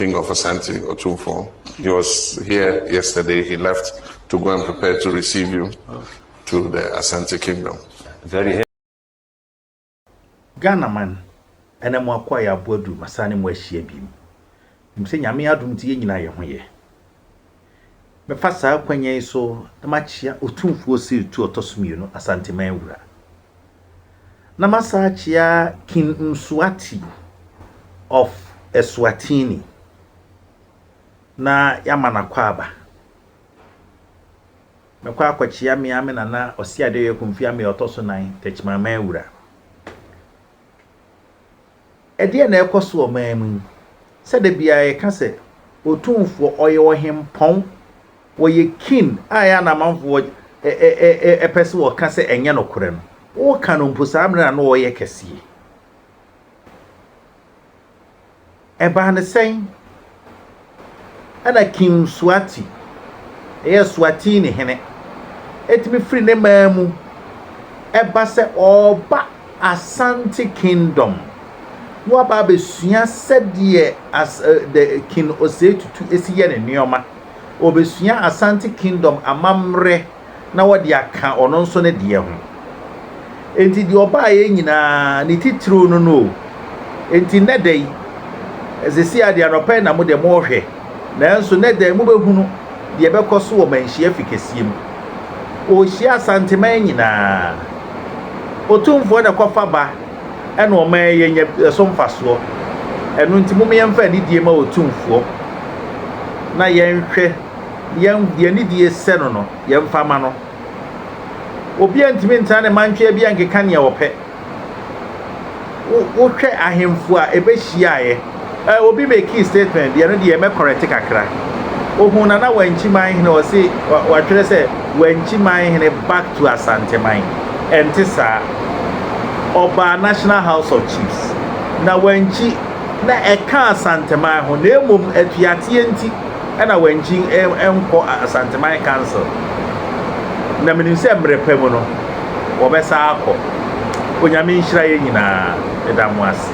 King of Asante, Otumfo. He was here yesterday. He left to go and prepare to receive you to the Asante Kingdom. Very happy. Ghana man, ɛnɛ mo akoa yɛ aboa du, masane mo ahyia biem. Nim sɛ Nyame adom nti yɛn nyinaa yɛ ho yɛ. Mɛfa saa kwanya yi so na makyea Otumfuo Sirtu Ɔtɔ so Mmienu Asanteman Wura. Na masan akyea King Mswati of Eswatini na yɛama no akwaaba. Mɛkɔ akɔkyea me ara me nana Ɔseadeɛyɛ Kofi Ameah Ɔtɔ so Nan Techiman Man Wura. Ɛdeɛn na ɛrekɔ so wɔ ɔman mu yi sɛ da biara yɛka sɛ Otumfoɔ, ɔyɛ ɔhempɔn, wɔyɛ kin a ɛyɛ a na amanfoɔ pɛ sɛ wɔka sɛ ɛnyɛ nokorɛ no, woka no mpo saa mmerɛ na na ɔreyɛ kɛseɛ. Ɛbaa no sɛn? Ɛnna King Suati, ɛyɛ Swatini hene, tumi firi ne man mu ba sɛ ɔreba Asante Kingdom na waba abɛsua sɛdeɛ as, uh, the King Osei Tutu si yɛ ne nneɛma. Ɔbɛsua Asante Kingdom amammerɛ na wɔde aka ɔno nso ne deɛ ho. Enti deɛ ɔbaeɛ nyinaa, ne titiriw no no o. Enti nnɛ da yi, seesei ara deɛ anɔpa yi na mo deɛ morehwɛ, nanso nnɛ da yi mobɛhunu deɛ ɛbɛkɔ so wɔ manhyia fi kɛseɛ mu. Ɔrehyia Asanteman nyinaa. Otumfoɔ na ɛkɔfa ba ɛna ɔma yɛnya ɛso mfasoɔ. Ɛno nti mom yɛmfa anidie ma Otumfoɔ na yɛnhwɛ. yɛn deɛ ne die sɛ no no, yɛmfa ma no. Obiara ntumi ntena ne mantwea bi nkeka nea ɔpɛ. Wohwɛ ahemfo a ɛbɛhyiaeɛ, eh, obi mekii statement bi, ɛno deɛ mɛkɔrɛte kakra. Ohun Nana Wankyi Manhene, ɔse watwerɛ sɛ Wankyi Manhene back to Asanteman. Ɛnte saa. Ɔbaa National House of Chiefs. Na Wankyi na ɛka Asanteman ho, na mmom atuateɛ nti. na wangyin nkɔ Asanteman Council, na menim sɛ mmerɛ pa mu no wɔbɛsan akɔ. Onyame nhyira yɛn nyinaa. Meda mo ase.